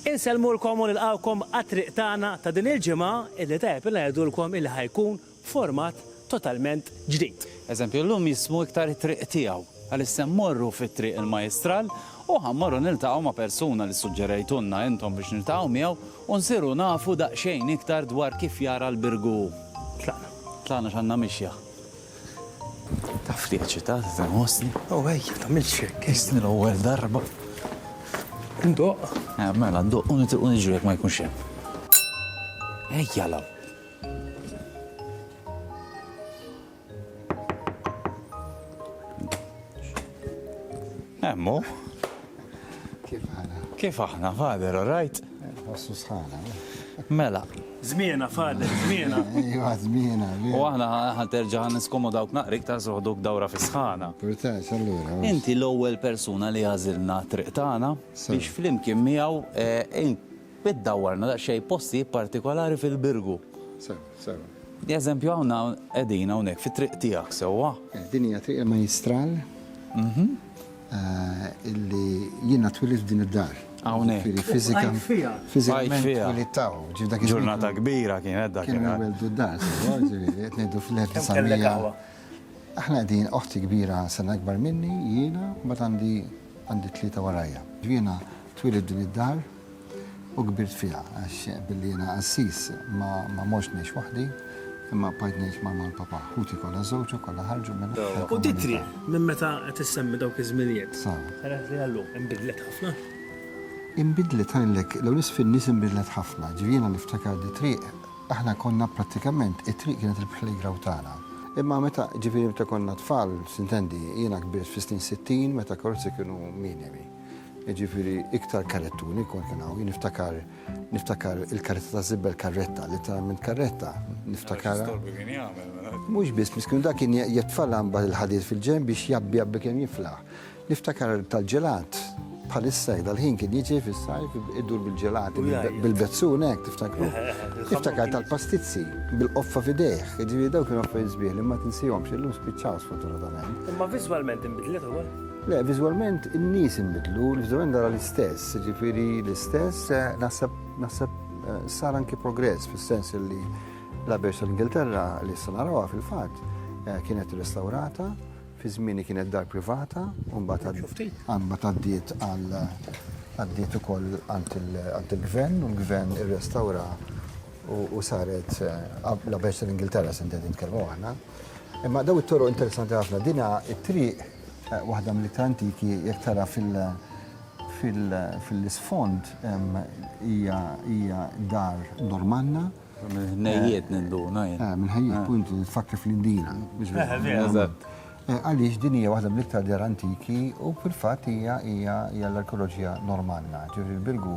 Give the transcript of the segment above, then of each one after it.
Insellmulkom u nilqgħukom għat-triq tagħna ta' din il-ġimgħa illi tajjeb li ngħidulkom illi ħa jkun b'format totalment ġdid. Eżempju, illum jismu iktar it-triq tiegħu għaliex se mmorru fi Triq il-Majjistral u ħa mmorru niltaqgħu ma' persuna li ssuġġerejtulna intom biex niltaqgħu miegħu u nsiru nafu daqsxejn iktar dwar kif jara l-Birgu hu. Tlaqna. Tlaqna x'għandna mixja. Taf li eċitata tinħossni? Oh, ejja, tagħmilx hekk. Isni l-ewwel darba. Ndoq. Eh, mela, ndoq u nitilqu niġu jekk ma jkunx hemm. Ejja law. Hemmu. Kif aħna? Kif aħna, Father, all right? Nħossu sħana. Mela. Zmiena, Father, zmiena. Iva, zmiena. U aħna ħanterġa ħan niskomu dawk naqrik ta' soħduk dawra fi sħana. Purtax, allura. Inti l-ewwel persuna li għażilna triq tagħna biex flimkien miegħu eh, biddawwarna daqsxejn posti partikolari fil-birgu. Sewa, sewa. Eżempju għawna edina unek fi triq tijak sewa. Eh, Dinja triq il-majistral. Mhm. illi jiena twilidt f'din id-dar. Hawnhekk. Jiġifieri fiżika. Għajt fiha. Fiżikament twilidt hawn. Ġifieri dak iż-żmien. Ġurnata kbira kienet dak. Kienu jwelldu d-dar, sewa, ġifieri qed ngħidu fl-1900. Aħna qegħdin, oħti kbira sena akbar minni, jiena, mbagħad għandi tlieta warajja. Jiena twilidt f'din id-dar. u kbirt fiha għax billi jiena qassis ma ma mortx ngħix waħdi imma bqajt ngħix ma' ma' l-Papa. Ħuti kollha żewġ u kollha ħarġu minn tal-komunità. U t-triq minn meta qed issemmi dawk iż-żminijiet sa dak li hi llum inbidlet ħafna? Inbidlet ngħidlek l-ewwel nett fin-nies inbidlet ħafna. Ġifieri jiena niftakar li triq aħna konna prattikament it-triq kienet il-playground tagħna. Imma meta ġifieri meta konna tfal, x'intendi, jiena kbirt fis-snin sittin meta karozzi kienu minimi. Jiġifieri iktar karrettuni kont kien hawn, niftakar niftakar il-karretta ta' zibbel karretta, literalment karretta, niftakar. Mela. Mhux biss, miskun dak kien jitfalla mbagħad il-ħadid fil-ġenb biex jabbi jabbi kemm jiflaħ. Niftakar tal-ġelat bħalissa dal-ħin kien jiġi fis-sajf idur bil-ġelat bil-bezzun hekk tiftakru. Niftakar tal-pastizzi bil-qoffa fidejh, jiġifieri dawk kienu affarijiet sbieħ li ma tinsihomx illum spiċċaw sfortunatament. Imma viżwalment inbidlet ukoll. Le, viżwalment in-nies inbidlu, viżwalment dara l-istess, jiġifieri l-istess, naħseb naħseb sar anki progress fis-sens li l-Abbey tal-Ingilterra li issa narawha fil-fatt eh, kienet restaurata fi żmieni kienet dar privata u mbagħad għaddiet għal għaddiet ukoll għand il-gvern u l-gvern irrestawra u saret eh, la bersa l-Ingilterra se nitkellmu aħna. Imma daw it-toroq interessanti ħafna dina it-triq Waħda mill-iktar antiki jekk tara fil-isfond hija dar Normanna. Mill-ħnejjiet ninduna jien. Mill-ħnejjiet, punt, tfakkar fl-Indira. Eżatt. Għaliex din hija waħda mill-iktar dar antiki u fil-fatt hija l-arkeoloġija Normanna, ġifieri l-Birgu.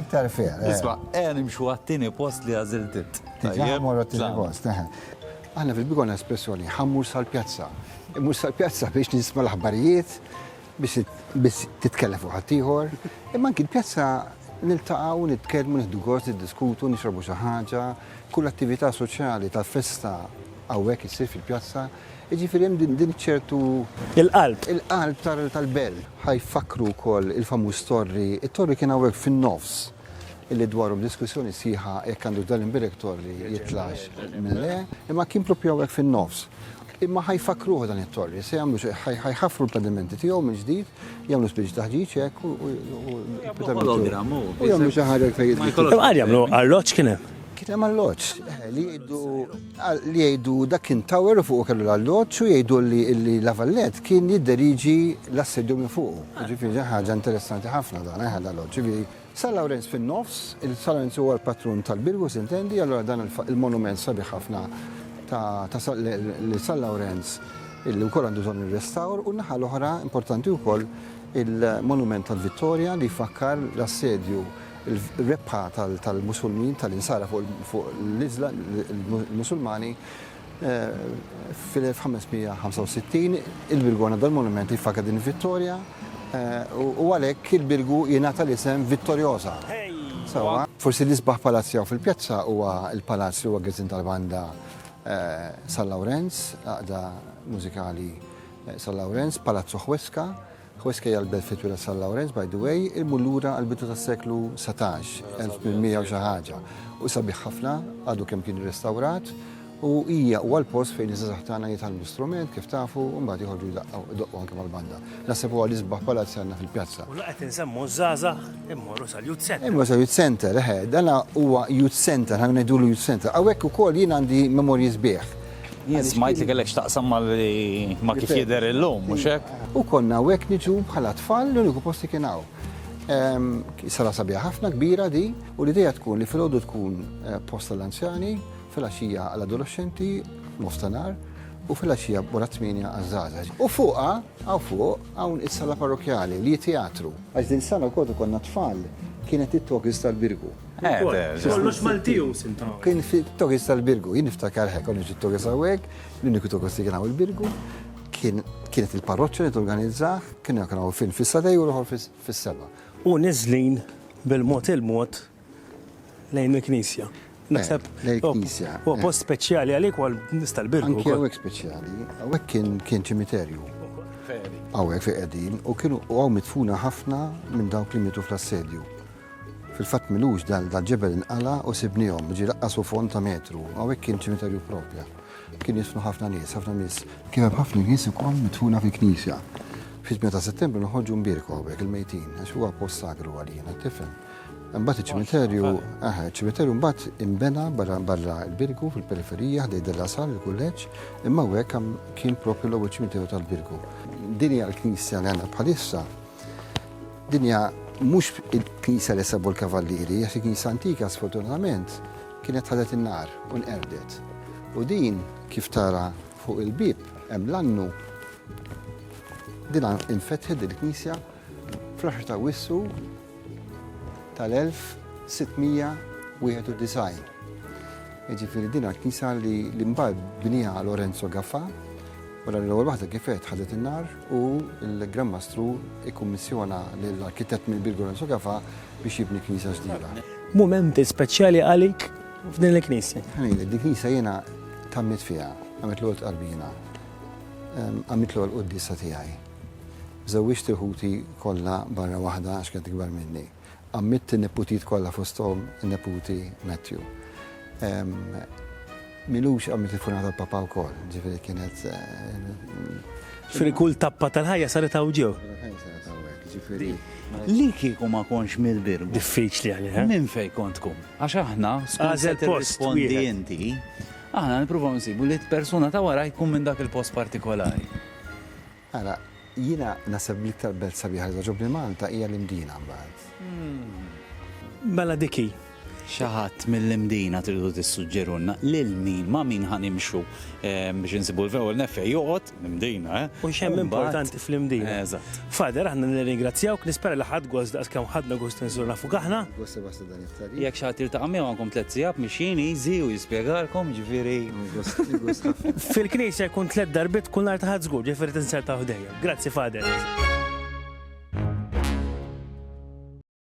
Iktar fil. Isma', ejja nimxu għat-tieni post li għażilt int. Tajjeb. Morru għat-tieni post. Aħna fil-bidu għandna espressjoni, ħa mmur sal-pjazza. Immur sal-pjazza biex nisma' l-aħbarijiet, biex titkellem fuq ħaddieħor. Imma anki l-pjazza niltaqgħu, nitkellmu, nieħdu gost, niddiskutu, nixrobu xi ħaġa. Kull attività soċjali tal-festa hawnhekk issir fil-pjazza. Jiġifieri hemm din din ċertu Il-qalb. il-qalb tal- tal-belt. Ħa jfakkru wkoll il-famuż torri, it-torri kien hawnhekk fin-nofs illi dwarhom diskussjoni sħiħa jekk għandux dan l-imbierek torri jitlax minn le, imma kien proprju hawnhekk fin-nofs. Imma ħa jfakkruh dan it-torri, se jagħmlu xi, ħa ħa jħaffru l-pedimenti tiegħu mill-ġdid, jagħmlu spiċċ taħġiġ hekk u u u l-proprjetà minn Hologram, hu. u jagħmlu xi ħaġa iktar Imma jagħmlu arloġġ kien hemm? Kien hemm arloġġ, eħe, li jgħidu Qal li jgħidu dak kien tower u fuqu kellu l-alloġġ u jgħidu li li La Vallette kien jidderiġi l-assedju minn fuqu. Jiġifieri ġa ħaġa interessanti ħafna dan eh l-alloġġ. Jiġifieri San Lawrenz fin-nofs, il-San Lawrenz huwa l-patrun tal-Birgu s'intendi, allura dan il-monument sabiħ ħafna ta' ta' Sa li San Lawrenz li wkoll għandu bżonn ir-restawr u n-naħa l-oħra importanti wkoll il-monument tal-Vittorja li jfakkar l-assedju Il-rebħa tal-Musulmin, tal-Insara fuq l-Musulmani fil-1565, il-Birgu għandha dan monument li jfakar din il-vittorja u għalhekk il-Birgu jingħata l-isem Vittoriosa. Forsi l-isbaħ palazz li hawn fil-pjazza huwa l-palazz li huwa għeżin tal-banda San Lawrenz, għaqda mużikali San Lawrenz, Palazzo Huesca. Hu skejjel l-belt fi Twila San Lawrenz, by the way, imur lura għall-bidu tas-seklu satax, 1800 u xi ħaġa, u sabiħ ħafna, għadu kemm kien irrestawrat, u hija huwa l-post fejn iż-żgħażagħ tagħna jitgħallmu strument kif tafu u mbagħad joħorġu jdaqqaw, idoqqu anke mal-banda. Naħseb huwa l-isbaħ palazz li għandna fil-pjazza. U la qed insemmu ż-żgħażagħ immorru sal-Youth Center. Imma sa Youth Center, eħe, dana huwa Youth Center, ħa ngħidulu Youth Center. Hawnhekk ukoll jien għandi memorji sbieħ. Jien smajt li kellek x'taqsam ma' li ma' kif jidher illum, mhux hekk? U konna hawnhekk niġu bħala tfal, l-uniku post li kien hawn. Sala sabiħa ħafna, kbira di, u l-idea tkun li filgħodu tkun post għall-anzjani, filgħaxija għall-adoloxxenti, nofstanhar, u filgħaxija wara t-tmienja għaż-żgħażagħ. U fuqha, hawn fuq, hawn is-sala parrokkjali li hi teatru. Għax din is-sala wkoll fejn konna tfal kienet it-togħżiż tal-Birgu. Kollox Malti hu sinta. Kien fi Torres tal-Birgu, jien niftakar hekk, konna ġi Torres hawnhekk, l-uniku Torres li kien hawn il-Birgu, kienet il-parroċċa li torganizzah, kien hemm hawn fin fis-sadej u l-oħor fis-seba. U niżlin bil-mod il-mod lejn il-knisja. Naħseb lejn il-knisja. U post speċjali għalik għal nista' l-Birgu. Anke hawnhekk speċjali, hawnhekk kien ċimiterju. Hawnhekk fi qegħdin u kienu hawn mitfuna ħafna minn dawk li mitu fl-assedju. Fil-fatt m'ilux dal-ġebel inqala' u sibniehom, ġie laqqas u fond ta' metru. Hawnhekk kien ċimiterju proprja. Kien jidfnu ħafna nies, ħafna nies. Kien hemm ħafna nies ukoll midfuna fil-knisja. Fit-8 ta' Settembru noħorġu nbierku hawnhekk il-mejtin għax huwa post sagru għalina, tifhem. Imbagħad iċ-ċimiterju, aha, iċ-ċimiterju mbagħad inbena barra barra l-Birgu fil-periferija ħdej Della Sal il-kulleġġ, imma hawnhekk kien proprju l-ewwel ċimiterju tal-Birgu. Din hija l-knisja li għandna bħalissa. Din hija mhux il-knisja li sabu l-kavallieri, għax il-knisja antika sfortunatament kienet ħadet in-nar u nqerdet. U din kif tara fuq il-bib hemm l-annu din infetħet din il-knisja fl-10 ta' wissu tal-1691. Ġifiri din għal-knisa li l-imbar bnija Lorenzo Gaffa, u l-ewwel waħda kifet ħadet in-nar, u l-Gran Mastru kkummissjona lill-arkitett mill-kbir Gorenzo Gafa biex jibni knisja ġdida. Mumenti speċjali għalik f'din il-knisja? Ħa ngħidlek, din il-knisja jiena tgħammidt fiha, għamilt l-għolt qalbi jiena, għamilt l-għolt quddiesa tiegħi. Żewwiġt il-ħuti kollha barra waħda għax kienet ikbar minni. Għammitt in-niputijiet kollha fosthom in-neputi Matthew. Milux għammitt il-funeral tal-Papa wkoll, ġifieri kienet. Ġifieri kull tappa tal-ħajja saret hawn ġew. Saret hawnhekk, ġifieri. Li kieku ma kontx mill-Birgu. Diffiċli għalih, eh? Minn fejn kont tkun? Għax aħna skont se tirrispondi inti, aħna nippruvaw insibu li persuna ta' wara jkun minn dak il-post partikolari. Ara, jiena naħseb bl-iktar belt sabiħa li togħġobni Malta hija l-Imdina mbagħad. Mela dik hi. Xi ħadd mill-Imdina tridu tissuġġerulna lil min, ma' min ħa nimxu biex insibu l-ewwel nett fejn joqgħod, l-Imdina, eh? U x'hemm importanti fl-Imdina. Eżatt. Father, aħna nirringrazzjawk, nispera li ħadt gost daqskemm ħadna gost inżuru nafuk aħna. Gost li waslet. Jekk xi ħadd jiltaqa' miegħu għandkom tliet sigħat mixjin easy u jispjegalkom, jiġifieri. Fil-knisja jkun tliet darbiet kull nhar ta' Ħadd żgur, ġifieri tinsertaw ħdejja. Grazzi Father.